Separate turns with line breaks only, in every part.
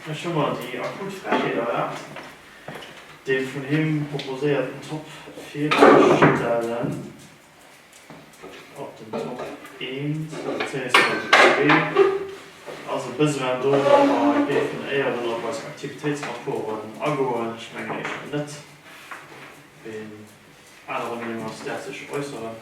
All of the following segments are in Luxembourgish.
Ech hu mer déi akut Frechheet erlaabt, dee vun him proposéierten Top virzestellen, op den Top 1 bezéiungsweise 2 ass e Besoin do, datt mer géifen éieren op eis Aktivitéitsrapporten agoen. Ech mengen éischter net, wéi en anerer Meenung ass, däerf sech äusseren.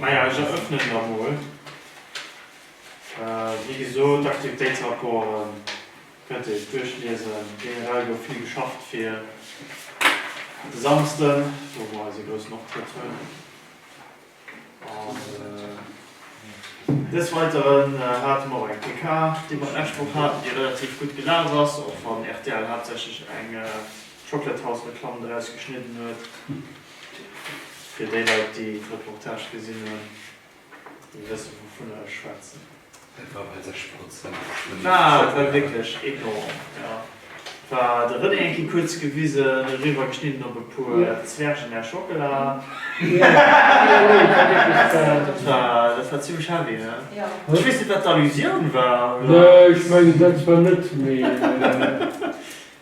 Majo, ech erëffnen der emol, wéi gesot d'Aktivitéitsrapporten kënnt Dir Iech duerchliesen. Generell gouf vill geschafft fir de Samsden, wou mer eise groussen Optrëtt hunn. An des Weideren hate mer och eng PK, déi mer d'lescht Woch haten, déi relativ gutt gelaf ass, och wann rtl haaptsächlech eng Chocolate House Reklamm draus geschnidden huet. Fir déi Leit, déi d'Reportage gesinn hunn, déi wësse wouvunner ech schwätzen. Et war bei
6 Prozent. Ah, et war
wierklech enorm, jo. Et war de René eng Kéier kuerz gewisen, eriwwer geschnidden op e puer Zwergen Air Schockela. Dat war, dat war zimlech heavy, ne? Ech weess net, wat
d'Allusioun
war, oder? Nee, ech mengen,
dat war net méi.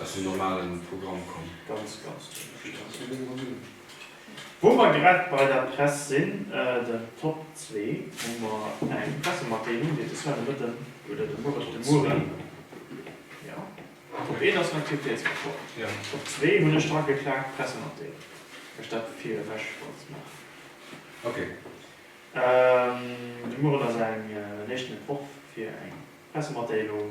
aus dem normale Programm komm. Ganz, ganz
dommeg. Ech kann et net méi drun hunn. Wou mer grad bei der Press sinn, den Top zwee, hu mer eng Pressematdeelung, déi de Soir de Mëtten, oder de Muere, de Mueren, jo, Top een ass den Aktivitéitsrapport, Top zwee
hunn ech
drageklaakt, d'Pressematdeelung, well ech dat fir ewech wollt maachen. De Mueren ass eng, en éischten Entworf fir eng Pressematdeelung.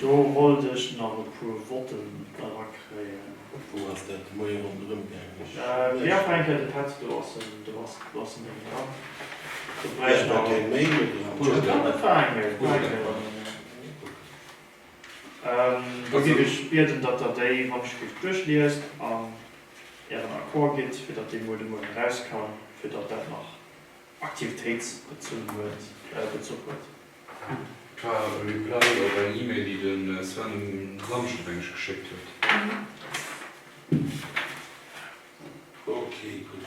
Do wollt ech nach e puer
Votten
erakréien. Da géif ech bieden, datt Der déi Wanterschrift duerchliest an Ären Accord gitt, fir datt dee muer de Mueren erauskam, fir datt dat nach aktivitéitsbezunn huet, Bezuch huet.
Par reply op eng E-Mail, déi de Sven um Samschden, meng ech, geschéckt huet.
Okay, gutt.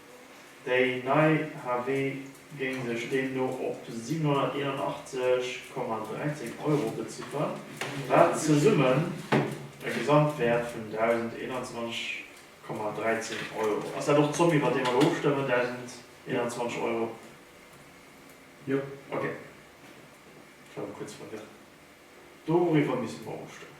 Déi nei HW géing sech deemno op 781,13 Euro bezifferen, wat zesummen e Gesamtwäert vun 1.021,13 Euro ass. Ass dat och d'Zomm, iwwert déi mer elo ofstëmmen, 1.021 Euro?
Jo. Okay.
Ech war mir kuerz verwirrt. Doriwwer misse mer ofstëmmen.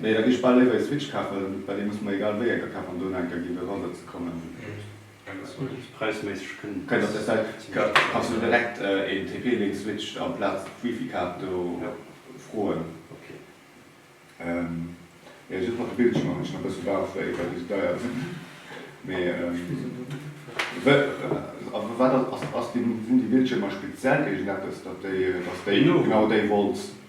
Nee, da gi
ech bal léiwer ee Switch kafen, well dee muss mer egal wéi enker kafen, an do no enker gi fir erëmmer ze kommen. Präisméisseg
kënnt dat zimmlech
zesumme. Kanns du direkt een TP-Link Switch amplaz d'Wifi-Kaart do froen. Jo, just mat de Bildschiermer hunn ech nach e bësse Bauchwéi, well déi sou deier sinn. Mee wat ass, sinn déi Bildschiermer speziell géigent eppes, datt déi, datt déi genau déi Volts.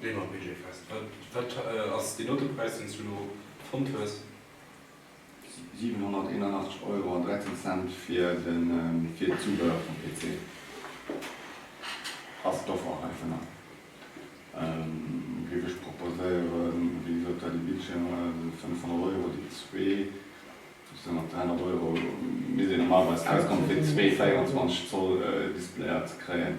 Leen am Budget fest, wat ass deen Autopräis deen s du elo fonnt hues? 781
Euro an 13 Cent fir den Zubehör vum PC ass d'Offer heivunner. Géif ech proposéieren, wéi gesot dat ee Bildschierm 500 Euro déi zwee, dat sinn mat 300 Euro misst ee normalerweis auskommen fir zwee 24 Zoll Displayer ze kréien.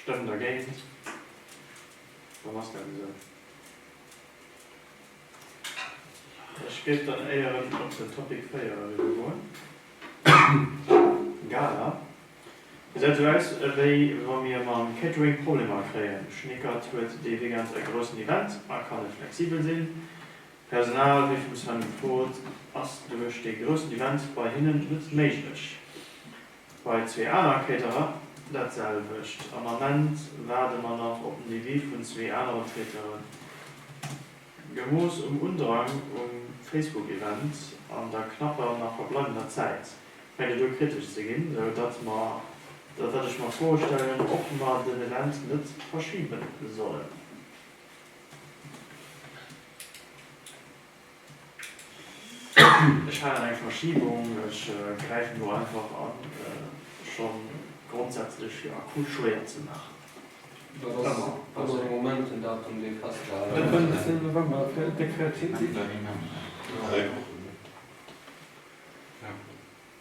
Stëmm dergéint, dann ass dat esou. Ech géif dann éieren op den Topic 4 eriwwergoen, Galer. Gesäit esou aus, wéi wa mir mam Catering Problemer kréien. Schnickert huet dee Weekend e groussen Event a kann net flexibel sinn. Personal, wéi vum Sven gefrot, ass duerch dee groussen Event bei hinnen net méiglech. Bei zwee aner Caterer dat selwecht. Am Ament waarde mer nach op den Devis vun zwee anere Traiteuren. Gemooss um Undrang um Facebook-Event an der knapper nach verbleibender Zäit, fänkt et u kritesch ze ginn, sou datt mer, sou datt ech mer d'Fro stellen, ob mer den Event net verschibe sollen. Ech maachen eng Verschibung, ech gräifen elo einfach an, scho grondsätzlech fir akut Choixen ze maachen. Dat ass ëmmer
de Moment, den Datum, dee festgehale gëtt. Den 10 November,
dat Dekret, kritt Dir dat?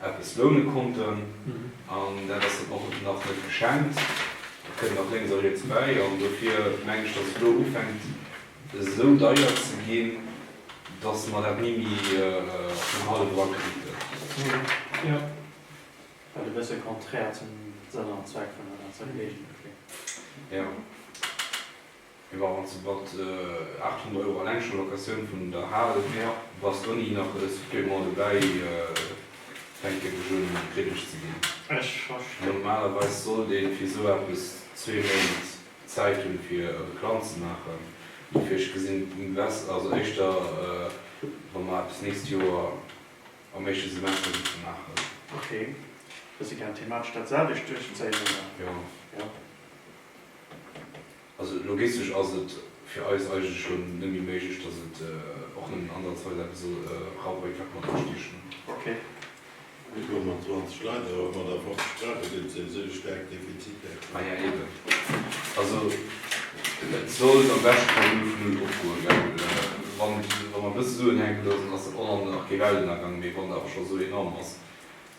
eppes loune konnten an dat ass dann och nach net geschenkt, dat kënnt nach lénks a riets bäi an dofir mengen ech, datt et elo ufänkt esou deier ze ginn, datt mer dat ni méi op den hallef erakriiten.
Wat e
bësse konträr zum Sënn an Zweck vun der ganzer Geleegenheet kléngt.
Mir waren zu mat 800 Euro alleng schon Locatioun vun der Hal her, bass d'Donny nach e Supplément dobäi fänken de Jeu méi kritteg ze ginn. Ech verstinn.
Normalerweis sollt
een fir sou eppes zwee Méint Zäit hunn fir e Replan ze maachen, dofir ech gesinn bess also éischter wa mer eppes nächst Joer am éischte Semester géife maachen. Ok,
dass si gären thematesch dat selwecht duerchzéien oder? Jo.
Also logistesch ass et fir eis eigentlech scho net méi méiglech, dass et och nëmmen ansatzweis eppes soll erauer wéi 4 Komma 5 Kierchturm.
4,20 Leit, awer mat a 50 Sprache gëtt et souwisou ee staarkt Defizit däerf. Maja eben.
Also et soll am beschte Fall nëmme vun Null opgoen, well wa mer e bësse Suen hänken loossen, ass dat och nach kee Weltennergang méi, wann et awer scho esou enorm ass.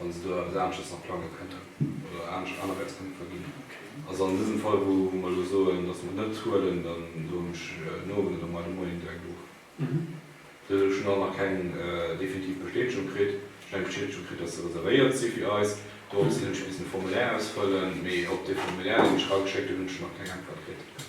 Wann se do eppes anesches nach plange kënnten oder anesch Anerwäitspunkte ginn. Also an dësem
Fall,
wou mer elo soen, datt mer et net huelen, da soen ech no an da mei de Moien direkt of. Bis elo hu ech nach keng definitiv Bestätegung kritt. Ech hunn eng Bestätegung kritt, datt se reservéiert si fir eis. Dorops hin hunn ech missen e Formulaire ausfëllen, mee op dee Formulaire, deen ech erageschéckt hunn, hunn ech nach keng Äntwert kritt.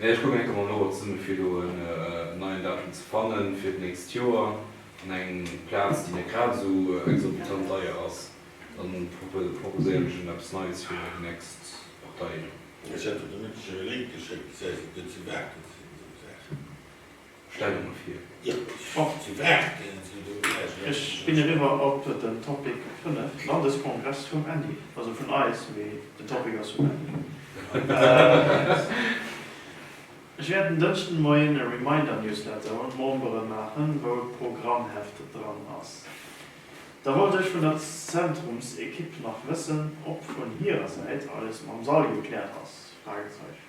Ech kucken enke mol no, ob se mir fir elo en neien Datum ze fannen fir d'nächst Joer an eng Plaz, déi net grad esou exorbitant deier ass. Da proposéieren ech Innen eppes Neies fir déi nächst Partei do. Ech hat der de
Mëtteg jo e Link geschéckt. Gesäis, ob déi ze bake sinn, esou Saachen.
Stellunge vir. Jo, ech schaffen zu
Drachten, sou do vläch.
Ech ginn eriwwer op den Topic 5, Landeskongress vum Andy, also vun eis, mee den Topic ass vum Andy. Ech wäert en Dënschden de Moien e Reminder-Newsletter un d'Membere maachen, wou e Programmheft dran ass. Da wollt ech vun der Zentrumsekipp nach wëssen, ob vun hirer Säit alles mam Sall gekläert ass? Fragezeichen.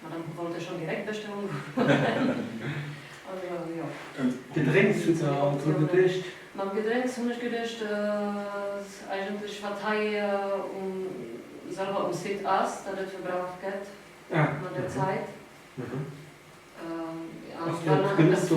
Ma dann hu wollt ech schon direkt beschten ugefueren. Also jo. An Gedrénks
hutt der alt dru geduecht? Mam Gedrénks hunn
ech geduecht, dass eigentlech wat hei um selwer um Site ass, dat et verbraucht gëtt mat der Zäit. Ass dat genuch do?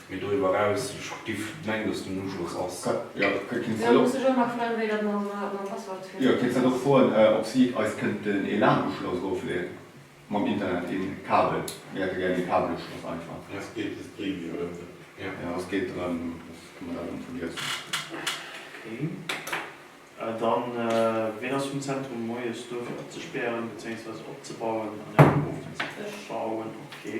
Mee doriwwer eraus, ech giff mengen dass den Uschloss ass. Jo, kënnt keen Zell
op. Jo, keen Zell och froen
op si eis kënnt den e-lan-Uschloss erofleeën mam Internet, een Kabel. Mir hätte gären een Kabeluschloss einfach. Ja, et geet just éi
Mio ënne. Jo, et geet
drëm,
dass de Modell ënne fungiert. Ok.
Dann, ween ass vum Zentrum moies do fir opzespären bezéingsweise
opzebauen
an
eng Prof fir ze schauen?
Okay.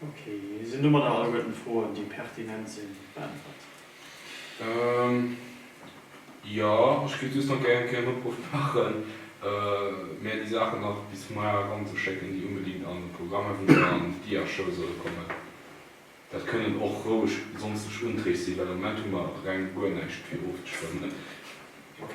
Ok, sinn domadder alleguerten d'Froen, déi pertinent sinn, beäntwert.
Jo, ech géif just nach gären en Opruff maachen, mär déi Saachen nach bis muer eranzeschécken, déi unbedingt an de Programm an an d'Diashow solle kommen. Dat kënnen och roueg sonstig Unträg sinn, well am Moment hu mer reng guer näischt fir ofzestëmmen. Ok.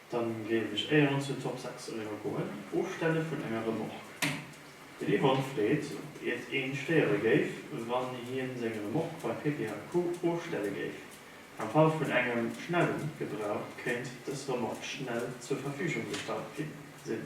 Dann géif ech éier ons den Top 6 eriwwer goen, ofstelle vun enger Remorque. Den Yvon freet op iert een stéiere géif wann hien seng Remorque bei Pepe a Co ofstelle géif. Am Fall vun engem schnellen Gebrauch kéint des Remorque schnell zur Verfügung gestallt ginn sinn.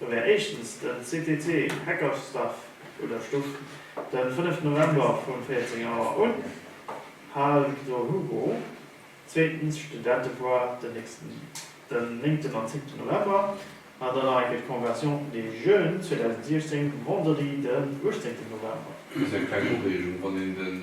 Da wär éischtens den CTT Heckersdaff oder Stuff den 5 November vun 14 Auer un, Hal Victor Hugo, zweetens Studentefoire den nächsten den 9 an 10 November an dann nach eng Kéier d'Conversion des Jeunes 2016 Vendredi den 18 November. Just eng kleng
Ureegung, Wann een den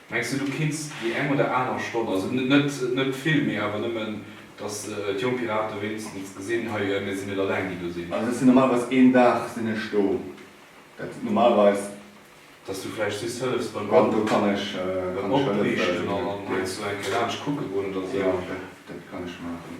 Mengs de du kriss déi eng oder aner Stonn, also net vill méi awer nëmmen dass d'Jonk Piraten wéinstens gesinn, hei mir sinn net alleng déi do sinn. Also ech sinn normalerweis een
Dag sinn ech do, dat sinn normalerweis. Dass
du vläicht just hëllefs beim
opriichten an
heiansdo eng Kéier laanscht kucke goen oder sou. Jo dat kann
ech maachen.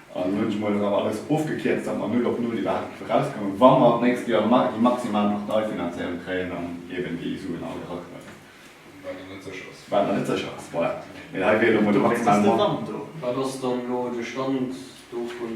An hunn ech mol erëm alles ofgekierzt, datt mer null op null iwwerhaapt géife rauskommen, wa mer d'nächst Joer déi maximal Parteifinanzéierung kréien an eeben déi Suen all eraknëppen. Wat nach net sécher
ass. Wat nach net sécher ass,
voilà. Mee hei wier elo mol de maximalen Montant do. Wat ass dann
elo de Stand dovun?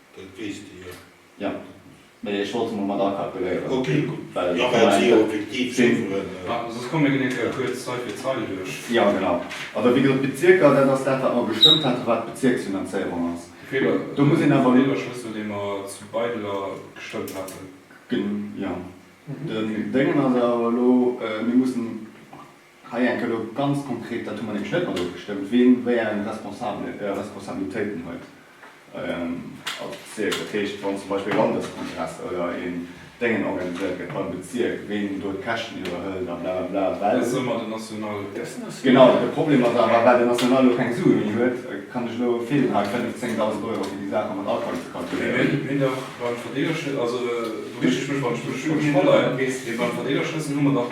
Dat
weess de jo. Jo,
mee ech wollt se mol mat akalkuléieren. Ok, gutt. Well ech kommen eng
Kéier. Warten, soss komme mir en
eng Kéier kuerz Zeil fir Zeil duerch. Jo, genau. Also,
wéi gesot, d'Bezierker, dat ass dat, wat mer gestëmmt haten, wat d'Bezierksfinanzéierung ass. De Feeler, do muss een awer. De Feeler ass deen, dee mer
zu Beideler gestëmmt haten. Gen, jo.
Den Déngen ass awer elo, mir mussen. Hei enke lo ganz konkret, dat hu mer nämlech net mat ofgestëmmt, wien wéi eng Responsabilitéiten huet als Bezierk. Dat heescht, wann zum Beispill e Landeskongress oder een Déngen organiséiert gëtt beim Bezierk, wien do d'Käschten iwwerhëlt a blablabla, well. Dat ass ëmmer den National.
Genau. De
Problem ass awer, well den National lo keng Sue méi huet, kann ech lo feelen hei 5, 10.000 Euro fir déi Saache mat Alcool ze kalkuléieren. Mee dach beim
Verdeelerschlëssel, also do mécht ech mech, wann ech mech verleien, mee beim Verdeelerschlëssel hu mer dach.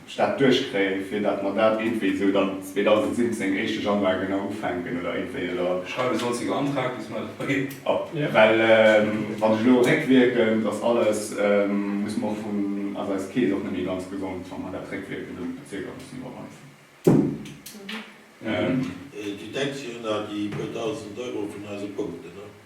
Stad duerchkréien, fir dat mer dat iergendwéi esou dann 2017, éischte Januar genau ufänken oder iergendwéi, oder? Schreiwe sollt se jo
Antrag, bis mer et da ginn. Well
wann ech elo réckwierkend, ass alles, muss mer och vun, ass eis Keess och net méi ganz gesond, wa mer dat réckwierkend un de Bezierker mussen iwwerweisen. Du denks jo un déi puer Dausend
Euro vun eise Punkten, oder?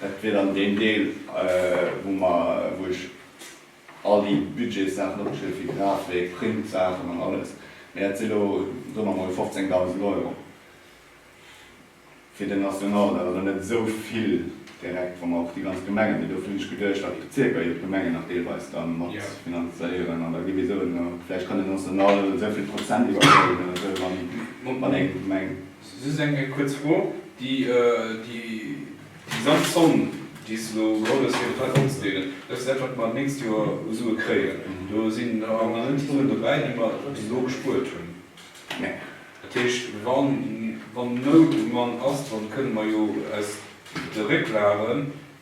Dat wier dann deen Deel, wou mer, wou ech all déi Budgetssaachen opgeschriwwen, fir Grafik, Printsaachen an alles. Mee dat si lo, soe mer emol, 15.000 Euro fir den National. Dat ass elo net esou vill direkt, wa mer och déi ganz Gemengen, mee dofir hunn ech geduecht, datt d'Bezierker jo d'Gemengen nach deelweis da mat finanzéieren an da gi mir soen, vläicht kann den National esou vill Prozent iwwerhuelen oder esou, wann eng Gemeng. Just eng
kuerz Fro, Déi gesamt Zomm, déi se elo geholl hues fir de Fräibauch ze deelen, dat ass dat, wat mer d'nächst Joer u Sue kréien. Do sinn awer nach net déi Suen dobäi, déi mer bis elo gespuert hunn. Dat
heescht,
wann Nout um Mann ass, dann kënnen mer jo aus de Récklagen,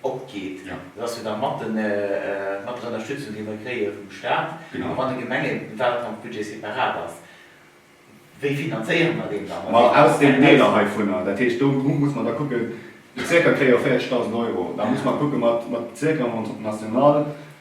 opgeet. Dat ass jo da mat der Ënnerstützung, déi mer kréie vum Stat a mat de Gemengen, well et am Budget separat ass. Wéi finanzéiere mer deen dann? Ma aus deenen Deeler
heivunner. Dat heescht, do muss mer da kucken, Bezierker kréie jo 40.000 Euro. Da muss mer kucke mat Bezierker, mat National,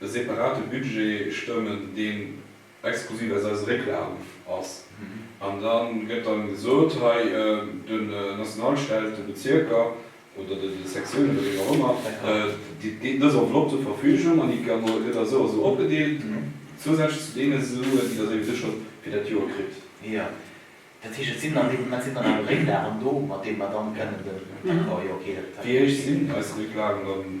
e separate Budget stëmmen, deen exklusiv aus eise Récklagen ass. An da gëtt dann gesot, hei den Nationalstell, de Bezierker oder de Sektiounen oder wien och ëmmer, déi dës Enveloppe zur Verfügung an déi gëtt da sou a sou opgedeelt, zousätzlech zu deene Suen, déi der souwisou scho fir dat Joer kritt. Jo, dat heescht,
et sinn an deem Moment sinn dann awer Récklagen
do,
mat deene
mer dann kënnen
den Accord, jo, okay,
dat. Wéi héich sinn eis
Récklagen
dann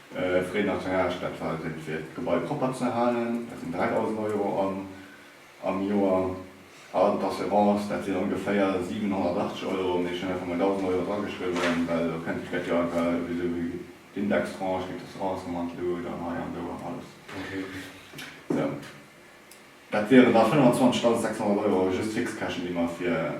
Frais naturage, dat war den fir d'Gebai propper ze halen, dat sinn 3.000 Euro am Joer, a d'Assurance, dat sinn ongeféier 780 Euro, mee ech hunn einfach mol 1.000 Euro drageschriwwen, well elo kënnt kritt jo einfach ewéi esou wéi d'Indextranche, kritt d'Assurance nach mat elo, dann hei an do an alles.
Sou,
dat wieren da 25.600 Euro just Fixkäschen, déi mer fir.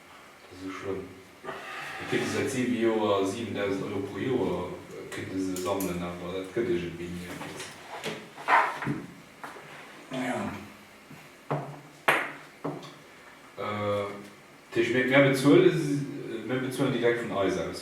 Esou schlëmm? Mir kënne säit 7 Joer 7.000 Euro pro Joer kënne se sammelen, awer dat gëtt iergendwéi ni eppes.
Dat
heescht, mir bezuelen direkt vun eis aus.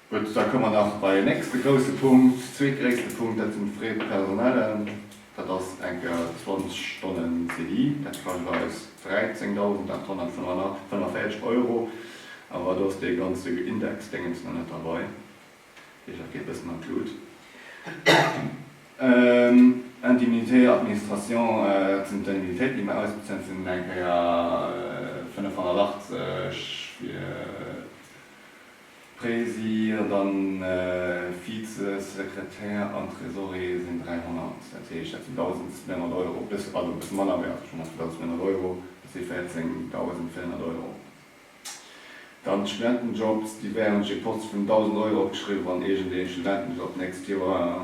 Gutt, da komme mer nach bei en nächste grousse Punkt, zweetgréisste Punkt, dat sinn d'Frais personnellen. Dat ass enker 20 Stonnen CDI, dat kascht eis 13.845 Euro. Awer do ass dee ganze Indexdéngens nach net derbei, dat heescht, dat geet bëssen an d'Lut. Indemnités administration, dat sinn d'Indemnitéiten, déi mer ausbezuelen, dat sinn eng Kéier 85 fir Presi ant an Vize Sekretär an Tresorier sin 300, dat heescht dat sin 1.900 Euro, bëss also bësse manner wéi ass schonn nach 1.900 Euro, dat si 14.400 Euro. Dann d'Studentenjobs, déi wären op je Poste vun 1.000 Euro opgeschriwwen, wann iergendeeë Studenten bis op d'nächst Joer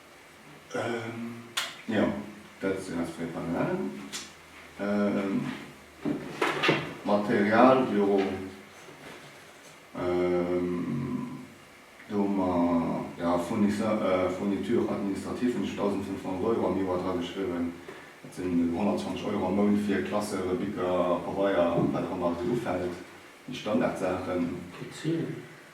Jo,
dat sinn eis fréier Panelen. D'Material, jo, do hu mer, jo, Fourniture administrative hunn ech 1.500 Euro am Joer drageschriwwen. Dat sinn 120 Euro am Mount fir Klassere, Bicker, Pabeier, wat och ëmmer esou ufält, déi Standardsaachen.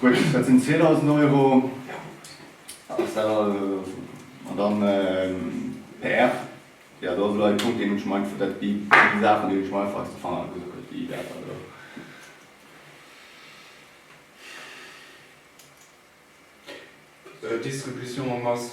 Gutt, dat sinn 2000 Euro. An dann PR. Jo, do ass elo e Punkt, deen ech meng, dat si déi Saachen, déi ech am einfachste fannen, also gutt, déi Wäerter do.
Distribution en masse.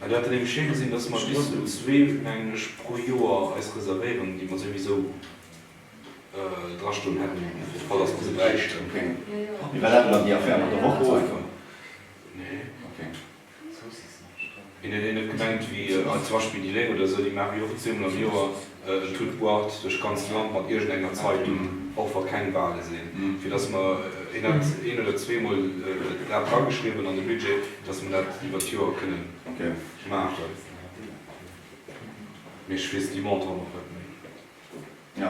Mä dat
géing schéi gesinn, datt mer bis un zwee mengen pro Joer eis reservéieren, déi mer souwisou dra stoen hätten, fir de Fall datt mer se bräichten. Hin huet een net gemengt, wéi zum Beispill déi Léng oder esou, déi maachen jo och zweemol am Joer. De Tut buart duerch d'ganzt Land mat iergend enger Zeitung, och wa keng Wale sinn, fir dass mer, hien hätt een oder zweemol dat drageschriwwen an de Budget, dass mer dat iwwert d'Joer kënnen maachen. Mee ech weess déi Montanten och net méi.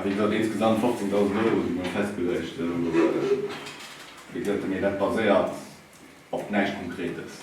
Wéi gesot, insgesamt
15.000 Euro si mol festgeluecht. Wéi gesot, mee dat baséiert op näischt Konkretes.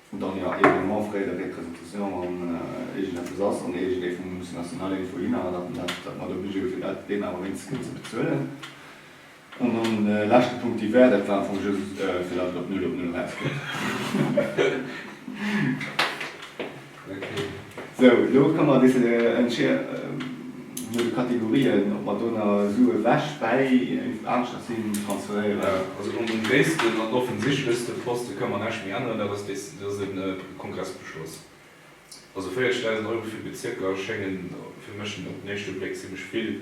Vun dann jo eben och fréi der Representatioun an iergend eppes ass an iergend ee vum Musée National irgendwou hin awer dat mer dat mer obligé hu fir dat deem awer wéinst kënnen ze bezuelen. An dann ee leschte Punkt, déi Wäert, dat war am Fong just fir dat et op null op null erausgeet.
Sou,
elo komme mer e bisse no de Kategorien, ob mer do na Sue ewech bäi iergendwou aneschters hin transferéieren. Also un dem
gréissten an offensichtlechste Poste kënne mer näischt méi änneren, dat ass dee, dat ass e Kongressbeschloss. Also 40.000 Euro fir Bezierker schéngen fir mech op den éischte Bléck zimmlech vill.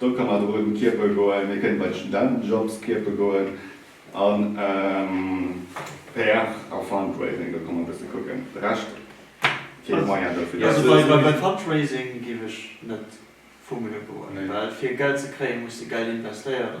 Do ka mer do un d'Kiepe goen, mir kënnen bei d'Studentenjobs kiepe goen an PR a Fundraising, do ka mer e bësse kucken. De Rescht, fir ee Moyen dofir ze kréien. Also bei
Fundraising géif ech net vu Mëlle goen, well fir Geld ze kréien, muss de Geld investéieren.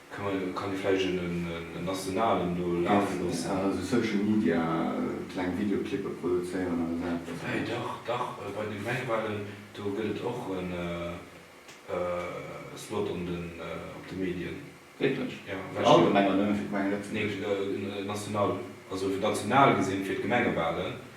Kann ee vläicht en nationalen do lafe loossen?
Eff, also Social Media, kleng Videoclippe produzéieren oder esou eppes? Wéi, dach, dach,
bei de Gemengewalen, do gëtt et och e Slot op de Medien. Wierklech? Jo,
fir all Gemeng oder
nëmme fir d'Gemeng
Lëtzebuerg? Nee,
national, also national gesinn fir d'Gemengewalen.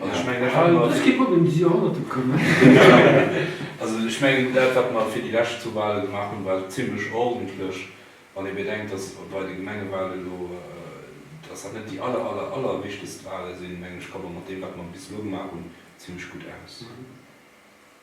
Also ech mengen, ech hat mer. Ech géif mat
engem Dix
Joerhonnerten kommen. Also ech
mengen, dat wat mer fir déi lescht zwou Wale gemaach hunn, war zimlech ordentlech, wann ee bedenkt, datt bei de Gemengewale elo, datt dat net déi aller, aller, allerwichtegst Wale sinn, menge ech, komme mer mat deem wat mer bis elo gemaach hunn, zimlech gutt aus.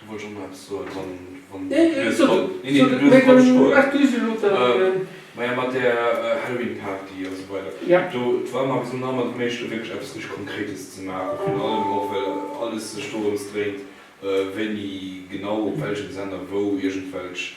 Du wollts och nach eppes soen, wann et net lues komm. Nee, nee, du duerf drop stoen. Maja, mat där Halloween-Party a sou weider. Do, d'Wam a
gesond
Hammer, déi méichten do wierklech eppes richteg Konkretes ze maachen. Virun allem och, well alles sech dorëms dréint, wéini genau, op welchem Sender, wou iergendwelch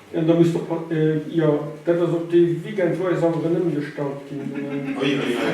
Jo, da muss de, jo, dat ass och dee Weekend, wou eis awer en
ëmgestallt
ginn
ass.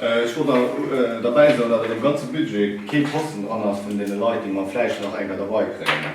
Ech wollt nach derbäi soen, datt an deem ganze Budget kee Posten dran ass vun deene Leit, déi mer vläicht nach enker derbei kréien.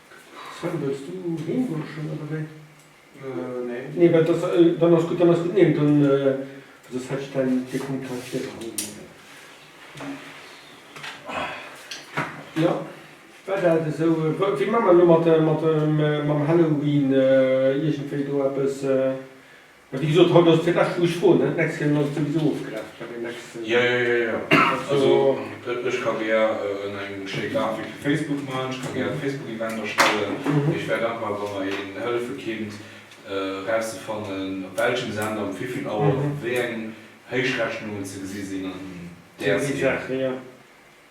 Sven, wëlls du heem goen schonn oder wéi? Nee, well dass, dann ass gutt, dann ass gutt, nee, dann soss hätt ech däin dee Punkt hei virgeholl. Jo, war dat esou? Wéi maa mer elo mat, mat, mam Halloween iergendwéi do eppes? Mä wéi gesot, haut ass et fir d'lescht wou ech froen, ne? D'nächst Kéier hunn ech et souwisou ofgerechent bei deem
nächsten. Jo, jo, jo, jo. Also ech ka gär eng schéi Grafik fir Facebook maachen, ech ka gär e Facebook-Event erstellen. Mee ech wär dankbar, wa mer een hëllefe kinnt erauszefannen, op welchem Sender, um wéivill Auer, wéi eng Héichrechnungen ze gesi sinn an där Seen.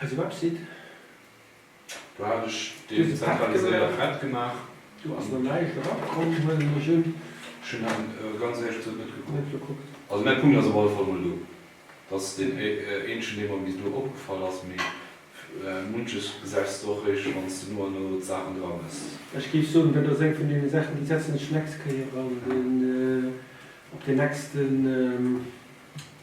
Eise Website.
Do hat ech deen zentraliséiert Thread gemaach. Do ass nach näischt
erop komm, huelen ech un. Ech hunn awer
ganz éierlech gesot net gekuckt. Also mäi Punkt
ass op alle
Fall mol do. Dat ass deen eenzegen dee mer bis elo opgefall ass, mee munches gesäis de och réischt wann s de no a no d'Saachen dramëss. Ech géif soen, dat ass
eng vun deene Saachen, déi setzen ech d'nächst Kéier an den op den nächsten.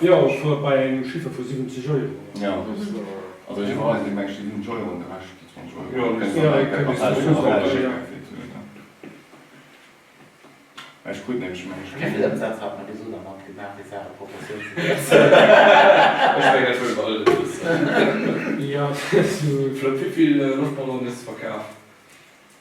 Jo, ech wor bei
engem
Chiffre
vu 70
Euro.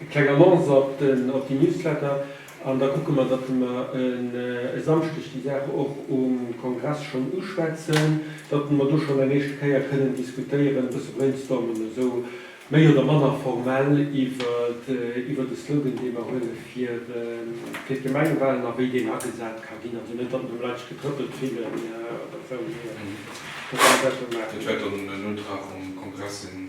Eng kleng Annonce op den op den Newsletter an da kucke mer datt mer e Samschdeg déi Saach och um Kongress schonn uschwätzen, datt mer do schonn eng éischte Kéier kënnen diskutéieren, e bësse brainstormen esou méi oder manner formell iwwert e Slogan dee mer huele fir d'Gemengewalen a wéi deen agesat ka ginn. Also net datt mer Leit sech getrëppelt fillen oder esou, mee datt mer dat do maachen. Dat wäert dann en
Utrag vum Kongress sinn.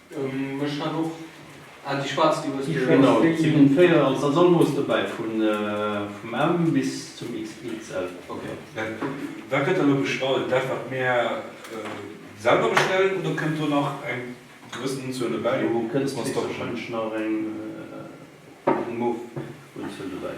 Ech hat och an déi schwaarz déi hues de. Genau, et sinn
4 an s'ass all Mooss dobäi vun vum M bis zum XXL. Ok,
wat gëtt
da lo bestallt? Dat wat mir selwer bestellen oder kënnt do nach eng gewëssen Unzuel dobäi? Do kënnt wahrscheinlech
nach eng Unzuel dobäi.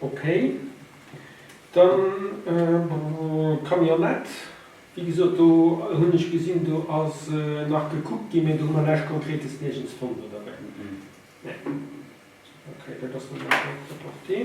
Okay, dann Camionnette, wéi gesot do hunn ech gesinn do ass nach gekuckt ginn, mee do hu mer näischt Konkretes nirgends fonnt oder wéi? Nee, okay, dat ass dann elo prêt-à-porter.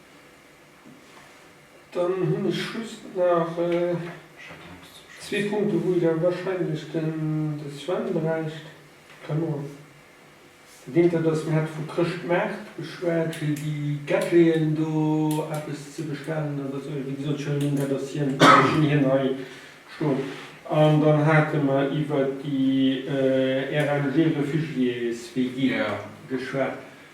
Dann hunn ech just nach zwee Punkte wou Der wahrscheinlech den de Sven bräicht. Dat eent dat ass, mir hate vu Chrëschtmaart geschwat, fir déi Gadgeten do eppes ze bestellen. Dat ass wéi gesot, ech hunn dat ass hien, ech hunn hien hei stoen. An dann hate mer iwwert déi RMG Réfugiés WG geschwat.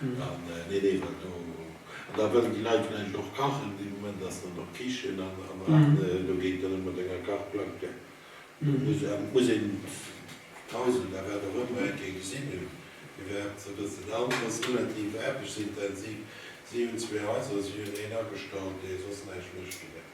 Nee, nee, well do, an da wëllen déi Leit vläicht och kachen, dee Moment ass dann och d'Kichen an do geet dann net mat enger Kachplack. Et muss een d'Hausel oder wat och ëmmer eng Kéier gesinn hunn, fir wat se bëtzen. Dat anert ass relativ aarbechtsintensiv. Si hunn zwee Haiser, si hunn een Agestallt, dee soss näischt mécht fir dat.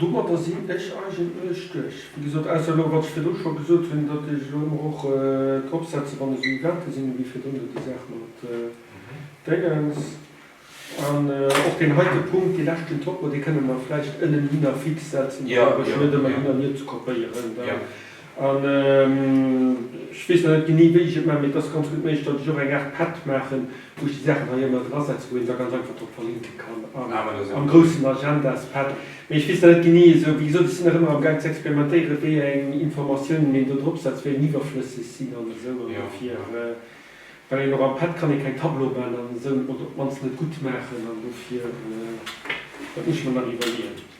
Domadder sinn ech eigentlech duerch. Wéi gesot, ausser elo, wat ech virdu scho gesot hunn, datt ech elo ëmmer och drop setze wann esou Evente sinn, ewéi virdrun do déi Saach mat Déngens. An och deen heite Punkt, dee leschten Topo, dee kënne mer vläicht ënnen hinner fix setzen, fir ech net ëmmer hin an hier ze kopéieren. An ech weess nach net genee wéi ech et maachen, mee et ass ganz gutt méiglech, datt ech och eng Aart Pad maachen, wou ech déi Saachen hei ëmmer drasetzen, wou een da ganz einfach drop verlinken kann am groussen Agendaspad. Mee ech weess nach net genee esou, wéi gesot, ech sinn nach ëmmer am Gaang ze experimentéieren, wéi eng Informatiounen een do drop setzt, wéi eng iwwerflësseg sinn an esou. An dofir, well een och am Pad kann ee keng Tableaue maachen an esou, oder op d'mannst net gutt maachen, an dofir, dat muss ech mer nach iwwerleeën.